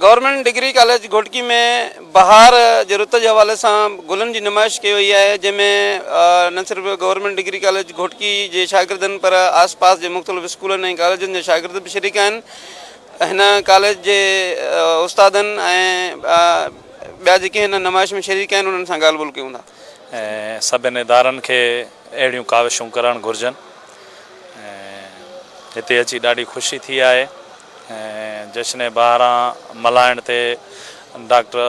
Government degree college Ghotki ۾ بهار جي رت جي حوالي سان گلن جي نمائش ڪئي وئي آهي جنهن ۾ نه صرف گورنمينٽ ڊگري ڪاليج گهوٽڪي جي شاگردن پر آس پاس جي مختلف اسڪولن ۽ ڪاليجن جا شاگرد به شريڪ آهن هن ڪاليج جي استادن ۽ ٻيا جيڪي هن نمائش ۾ شريڪ آهن انهن سان ڳالهه ٻولهه ڪيون ٿا ۽ سڀني ادارن کي اهڙيون ڪاوشون ڪرڻ گهرجن ۽ هتي اچي ڏاڍي خوشي ٿي آهي. جشن بهاران ملهائڻ تي ڊاڪٽر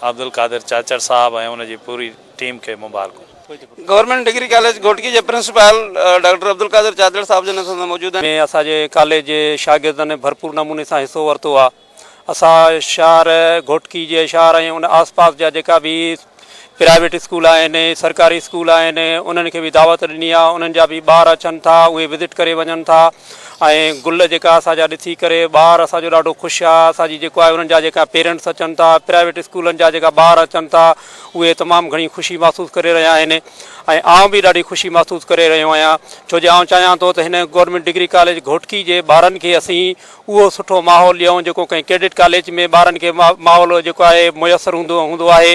عبدالقادر چاچڙ صاحب ۽ ان جي پوري ٽيم کي مبارڪون. گورنمينٽ ڊگري ڪاليج گهوٽڪي جي پرنسپال ڊاڪٽر عبدالقادر چاچڙ صاحب جن اسان سان موجود آهن. ۾ اسان جي ڪاليج جي شاگردن ڀرپور نموني سان حصو ورتو آهي. اسان شهر گهوٽڪي جي شهر ۽ ان آس پاس جا جيڪا به پرائيويٽ اسڪول آهن، سرڪاري اسڪول آهن، انهن کي به دعوت ڏني آهي، انهن جا به ٻار اچن ٿا، اهي وزٽ ڪري وڃن ٿا ۽ گل جيڪا اسان جا ڏسي ڪري ٻار اسان جو ڏاڍو خوش آهي، اسان جي جيڪو آهي انهن جا جيڪا پيرنٽس اچن ٿا، پرائيويٽ اسڪولن جا جيڪا ٻار اچن ٿا، اهي تمام گهڻي خوشي محسوس ڪري رهيا آهن ۽ آئون به ڏاڍي خوشي محسوس ڪري رهيو آهيان، ڇو جو آئون چاهيان ٿو ته هن گورنمينٽ ڊگري ڪاليج گهوٽڪي جي ٻارن کي اسين اهو سٺو ماحول ڏيئون جيڪو ڪنهن ڪيڊٽ ڪاليج ۾ ٻارن کي ماحول جيڪو آهي ميسر هوندو هوندو آهي.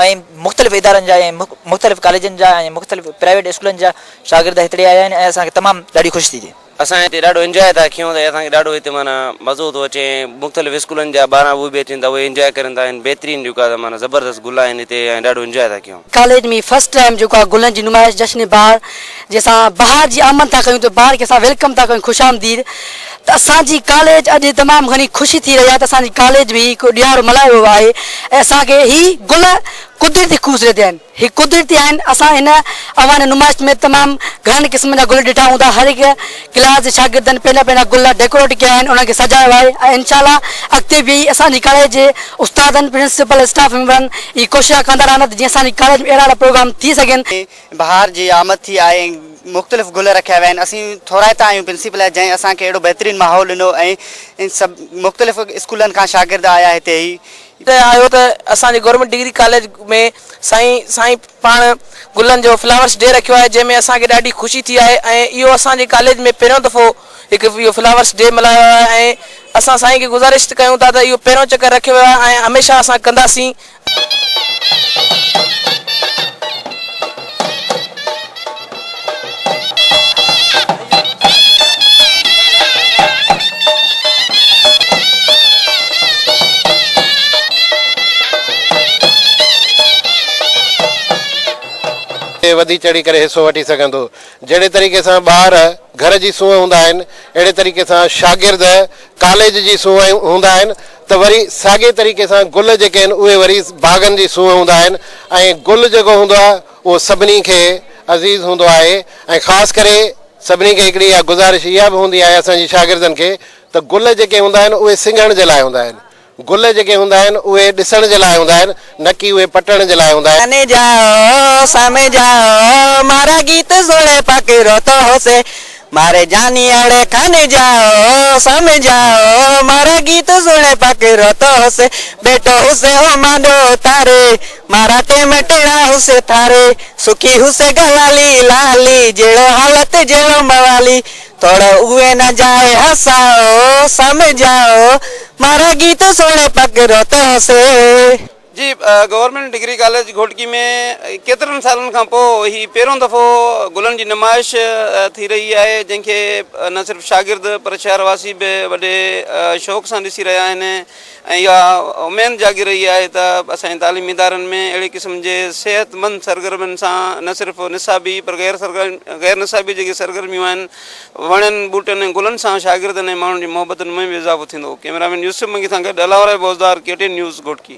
۽ مختلف ادارن جا ۽ مختلف ڪاليجن جا ۽ مختلف پرائيويٽ اسڪولن جا شاگرد هتڙي آيا آهن ۽ اسان کي تمام ڏاڍي خوشي ٿي ٿئي. اسان هتي ڏاڍو انجوائي ٿا ڪيون ته اسان کي ڏاڍو هتي معنيٰ مزو ٿو اچي ۽ مختلف اسڪولن جا ٻارا اهي به اچن ٿا اهي انجوائي ڪرن ٿا ۽ بهترين جيڪو آهي ته معنيٰ زبردست گل آهن هتي ۽ ڏاڍو انجوائي ٿا ڪيون. ڪاليج ۾ فرسٽ ٽائيم جيڪو آ گلن جي نمائش جشن بهار جي اسان بهار جي آمد ٿا ڪيون ته بهار کي اسان ويلڪم ٿا ڪيون خوش آمديد ته اسان جي ڪاليج اڄ تمام گهڻي خوشي ٿي رهي آ ته اسان جي ڪاليج ۾ هڪ ڏيهارو ملهايو ويو آهي ۽ اسان کي هي گل قدرتي خوبصورتي آهن هي قدرتي آهن اسان هن اوهان نمائش ۾ تمام گهڻن قسمن جا گل ڏٺا هوندا هر هڪ ڪلاس جي شاگردن پنهنجا پنهنجا گل ڊيڪوريٽ ڪيا آهن انهن کي سجايو آهي ۽ انشاء الله اڳتي به اسان جي ڪاليج جي استادن پرنسپل اسٽاف ميمبرن هي ڪوششان ڪندا رهندا ته جيئن اسان جي ڪاليج ۾ اهڙا اهڙا پروگرام ٿي سگهن. بهار جي آمد ٿي آهي ۽ مختلف گل رکيا ويا آهن اسين ٿورائتا آهيون پرنسپل جا جنهن اسان کي اهڙو بهترين ماحول ڏنو ۽ سڀ مختلف اسڪولن کان شاگرد آيا هتي هي. آيو ته اسان جي گورنمينٽ ڊگري ڪاليج ۾ سائين سائين پاڻ گلن جو فلاورس ڊي رکيو آهي جنهن ۾ اسان کي ڏاڍي خوشي ٿي آهي ۽ اهو اسان جي ڪاليج ۾ پهريون دفعو هڪ اهو فلاورس ڊي ملهايو ويو آهي ۽ اسان سائين کي گذارش ڪيون ٿا ته اهو پهريون چڪر رکيو ويو آهي ۽ هميشه اسان ڪنداسين. وڌي چڙهي ڪري حصو وٺي سگهندو جهڙي طريقي سان ٻار گهر جي سونهن هوندا آهن اهڙي طريقي سان شاگرد ڪاليج جي سونهن هوندا آهن ته وري ساڳي طريقي سان گل جيڪي آهن اهي وري باغن جي سونهن هوندا آهن ۽ گل جيڪو هوندو آهي اهو سڀني کي عزيز هوندو آهي ۽ خاص ڪري سڀني کي هڪڙي اها گذارش اها به هوندي آهي اسان جي شاگردن کي ته گل جيڪي هوندا آهن اهي سنگهڻ جي لاء هوندا آهن گل جيڪي هوندا آهن اهي ڏسڻ جي لاء هوندا آهن نه ڪي اهي پٽڻ جي لاء هوندا آهن. جاني جاء سمجهاء مارا گيت سڻي پاڪي روتو هوسي ماري جاني اڙي کان جاء سمجاء مارا گيت سڻي پڪ روتو هوسي بيٽو هوسي هو مانڏو تاري مارا ٽيم ٽيڻا هوسي ٿاري سکي هوسي گلالي لالي جهڙو حالت جهڙو موالي ٿوڙو اوهي نه جاء هساء سمجاء مارا گيت سڻي پڪ روتو هوسي. جي گورنمينٽ ڊگري ڪاليج گهوٽڪي ۾ ڪيترن سالن کان پوء هي پهريون دفعو گلن جي نمائش ٿي رهي آهي جنهن کي نه صرف شاگرد پر شهر واسي به وڏي شوق سان ڏسي رهيا آهن ۽ اها اميد جاڳي رهي آهي ته اسان جي تعليمي ادارن ۾ اهڙي قسم جي صحت مند سرگرمين سان نه صرف نصابي پر غير غير نصابي جيڪي سرگرميون آهن وڻن، ٻوٽن ۽ گلن سان شاگردن ۽ ماڻهن جي محبتن ۾ به اضافو ٿيندو. ڪئميرا مين يوسف منگي سان گڏ Allahwarai Bozdar, K T news, Ghotki.